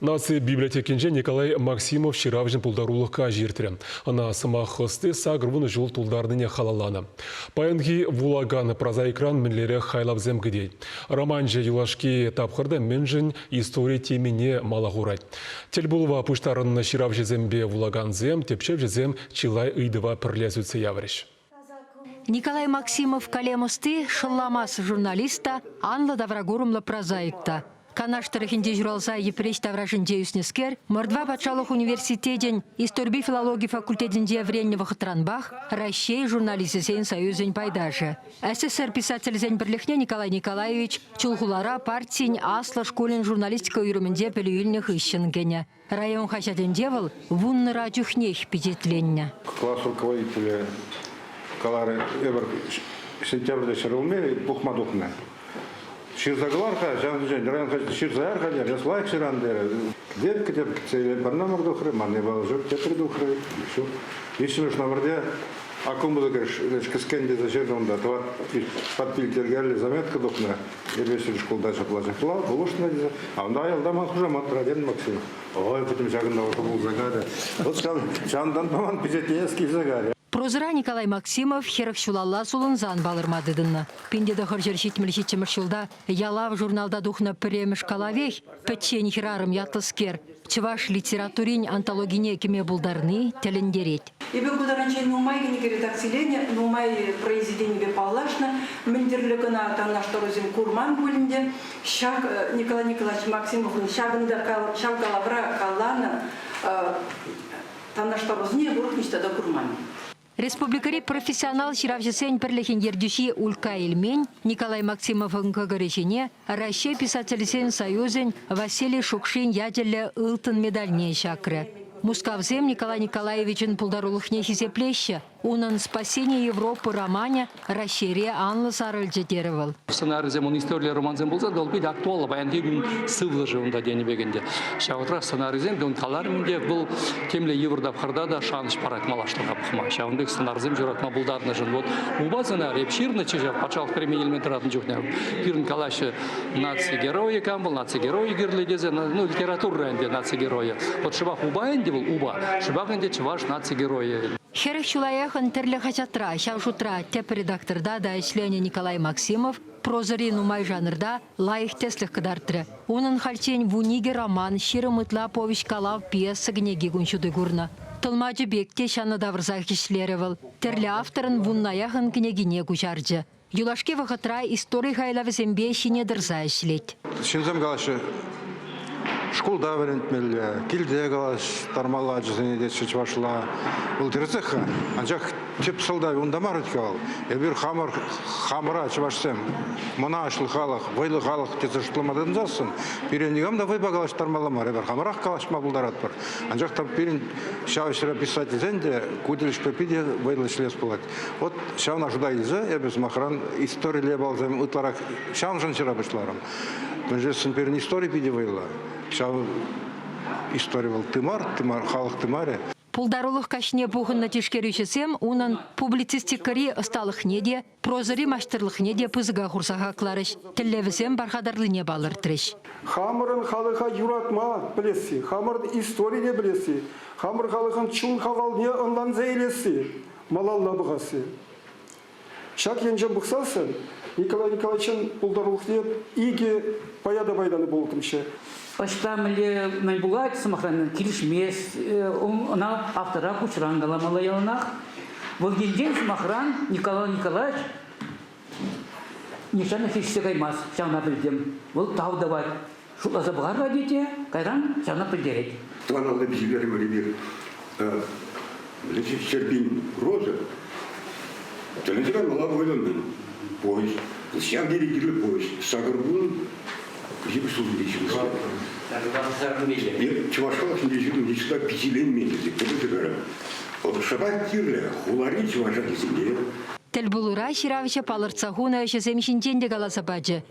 Наци библиотекинче Николай Максимов ҫыравҫӑн пултарулӑх каҫӗ иртрӗ. Ӑна сӑмах ӑсти сакӑрвунӑ ҫул тултарнине халалланӑ. Паянхи вулакан прозаикран мӗнлерех хайлавсем кӗтет. Романҫӑ юлашки тапхӑрта мӗншӗн истори темине мала хурать. Тӗлпулӑва пуҫтарӑннӑ ҫыравҫӑсемпе вулакансем, тӗпчевҫӗсем чылай ыйтӑва пӗрле сӳтсе яврӗҫ. Николай Максимов калем ӑсти, шӑлламас журналист та, анлӑ тавра курӑмлӑ прозаик та. Канаш тӑрӑхӗнче ҫуралса Йӗпреҫ таврашӗнче ӳснӗскер, Мордва патшалӑх университетӗн историпе филологи факультетӗнче вӗреннӗ вӑхӑтранпах Раҫҫей журналисчӗсен союзӗн пайташӗ. СССР писателӗсен пӗрлӗхне Николай Николаевич Чулхулара партин аслӑ шкулӗн журналистика уйрӑмӗнче пӗлӳ илнӗ хыҫҫӑн кӗнӗ. Район хаҫатӗнче вӑл вуннӑра чухнех пичетленнӗ. Класс руководителӗ каларӗ, эпир сентябрьте ҫӗр улми пухма тухнӑ. Ҫырса кӑлар-ха, ҫавӑншӗн район хаҫат ҫырса яр-ха, терӗ, лайӑх ҫыран терӗ. Верка те сире пӗр номер тухрӗ, ман япала ҫук, тепри тухрӗ, ҫук. Виҫҫӗмӗш номерте аккумулятор кӗскен тесе ҫырнӑ унта, тӑват подпиль тергерли заметка тухнӑ. Сервисри шкулта ҫапла-ҫапла пулӑшнӑ тесе. Анда ялта ман хушамат Роден Максим. Ой, пӗтӗм ҫакӑнта вӑхӑт пулса карӗ. Вӑл ҫав ҫантан ман пичетленес килсе карӗ. Прозӑра Николай Максимов хӗрӗх ҫулалла сулӑнсан палӑрма тытӑннӑ. Пин те тӑхӑрҫӗр ҫитмӗл ҫиччӗмӗш ҫулта Ялав журналта тухнӑ пӗрремӗш калавех Пӗччен хӗрарӑм ятлӑскер чӑваш литературин антологине кӗме пултарни тӗлӗнтерет. Эпӗ ку тарӗнчен нумай кӗнеке редакциленӗ, нумай произведенипе паллашнӑ, мӗн тӗрлӗ кӑна танлаштарусем курман пуль ӗнтӗ. Ҫак, Николай Николаевич Максимовӑн ҫакӑнта, ҫав калавра каланӑ танлаштарусене эпӗ ниҫта та курман. Республикӑри профессионал ҫыравҫӑсен пӗрлӗхӗн ертӳҫи Улька Ильмень Николай Максимовӑн кӑкӑрӗ ҫине Раҫҫей Писательсен союзӗн Василий Шукшин ячӗллӗ ылтӑн медальне ҫакрӗ. Мускавсем Николай Николаевичӑн пултарулӑхне хисеплеҫҫӗ. Унӑн Спасение Европы романӗ Раҫҫейре анлӑ сарӑлчӗ терӗ вӑл. Сӑнарӗсем вун историллӗ романсем пулсан та, вӑл питӗ актуаллӑ. Паянхи кун сывлӑшӗ унта тенӗ пек ӗнтӗ. Ҫав шутрах сӑнарӗсем, ун каларӑмӗн те, вӑл темле йывӑр тапхӑрта та шанӑҫ парать малашлӑха пӑхма. Ҫавӑн пек сӑнарсем ҫуратма пултарнӑшӑн вот упа сӑнар эп ҫырнӑччӗ ҫав патшалӑх премийӗ илме тӑратнӑ чухне пирӗн калаҫҫӗ наци геройӗ кам вӑл наци геройӗ кирлӗ тесе ну литература ӗнтӗ наци геройӗ вот шӑпах упа ӗнтӗ вӑл упа шӑпах ӗнтӗ чӑваш наци геройӗ Хӗрӗх чылаях тӗрлӗ хаҫатра, ҫав шутра тӗп редакторта та ӗҫленӗ Николай Максимов прозӑри нумай жанрта лайӑх тӗслӗх кӑтартрӗ. Унӑн хальччен вун икӗ роман, ҫирӗм ытла повеҫ-калав, пьеса кӗнеки кун ҫути курнӑ. Тӑлмачӑ пек те ҫанӑ тавӑрсах ӗҫлерӗ вӑл. Тӗрлӗ авторӑн вуннаях ӑн кӗнекине куҫарчӗ. Юлашки вӑхӑтра истори хайлавӗсемпе ҫине тӑрса ӗҫлет. Ҫынсем калаҫҫӗ, Шкулта вӗрентмелле, килте калаҫтармалла ачасене тетчӗ чӑвашла. Вӑл тӗрӗсех-ха, анчах тӗп сӑлтавӗ унта мар-ҫке вӑл. Эпир хамӑр хамӑра чӑвашсем мӑнаҫлӑ халӑх, вӑйлӑ халӑх тесе шутлама тытӑнсассӑн пире никам та вӑйпа калаҫтармалла мар. Эпир хамӑрах калаҫма пултаратпӑр. Анчах та пирӗн ҫав ӗҫре писательсен те ку тӗлӗшпе питӗ вӑйлӑ ӗҫлес пулать. Вот ҫавна шута илсе эпӗ, сӑмахран, историлле балсем ытларах ҫавӑншӑн ҫыра пуҫларӑм. Мӗншесен пирӗн истори питӗ вӑйлӑ. Ҫав истори вӑл тымар, тымар, халӑх тымарӗ. Пултарулӑх каҫне пухӑннӑ тишкерӳҫӗсем унӑн публицистикӑри ӑсталӑхне те, прозӑри маҫтӑрлӑхне те пысӑка хурса хакларӗҫ, тӗллевӗсем пархатарлине палӑртрӗҫ. Хамӑрӑн халӑха юратма пӗлесси, хамӑр историне пӗлесси, хамӑр халӑхӑн чун хавалне ӑнланса илесси, малалла пӑхасси. Ҫак енчен пӑхсассӑн Николай Николаевичӑн пултарулӑхне икӗ пая та пайтан пулӑттӑмччӗ. Ӑҫта мӗнле мӗн пулать, сӑмахран, килӗшмест ӑна автора куҫран каламалла яланах. Вӑл енчен, сӑмахран, Николай Николаевич нихҫан ӗҫлешсе каймасть, ҫавна пӗлтӗм. Вӑл тав тӑвать, Шутласа пӑхар-ха, тете, кайран сана пӗлтерет. Тӑван аллипе ҫитерӗмӗр эпир Леши Ҫерпин Роза. Тӗлӗнсе каймалла вӑйлӑн повеҫ. Ҫав тери кирлӗ повеҫ. Сакӑр кун ҫепӗҫ ҫул ҫитеҫҫӗ. Чӑваш халӑх ҫинчен йышла пичетленмен тесе кӗтетпӗр. Вӑл шӑпа кирлӗ хулари чӑваш ачисене. Тӗлпулура ҫыравҫӑ палӑртса хунӑ ӗҫӗсем ҫинчен те каласа пачӗ.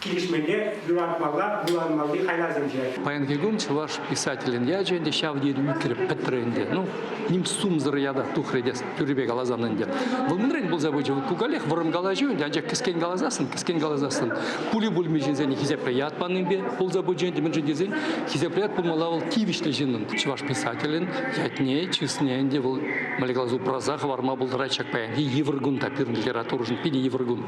Килӗшмелле вуланмалли хайлавсенче. Паянхи кун чӑваш писателӗн ячӗ ӗнтӗ ҫав тери ӳкрӗ, пӗтрӗ ӗнтӗ. Ну, ним сумсӑр ята тухрӗ те тӳррипе каласан ӗнтӗ. Вӑл мӗнрен пулса пычӗ? Вӑл кукалех вӑрӑм калаҫу ӗнтӗ, анчах кӗскен каласассӑн, кӗскен каласассӑн пули-пульми ҫынсене хисепре ят панипе пулса пычӗ ӗнтӗ, мӗншӗн тесен хисепре ят пулмалла вӑл тивӗҫлӗ ҫыннӑн. Чӑваш писателӗн ятне, чысне ӗнтӗ вӑл, мӗнле калас, упраса хӑварма пултарать ҫак паянхи йывӑр кун та пирӗн литературӑшӑн питӗ йывӑр кун.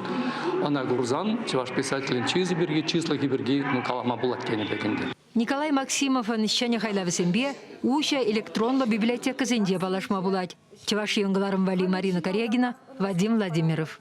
Ӑна курсан чӑваш писателӗн чысӗ пирки, чыслӑхӗ пирки калама пулать тенӗ пек ӗнтӗ. Николай Максимовӑн ҫӗнӗ хайлавӗсемпе уҫӑ электронлӑ библиотекӑсенче паллашма пулать Чӑваш Ен кӑларӑм валли Марина Корягина, Вадим Владимиров.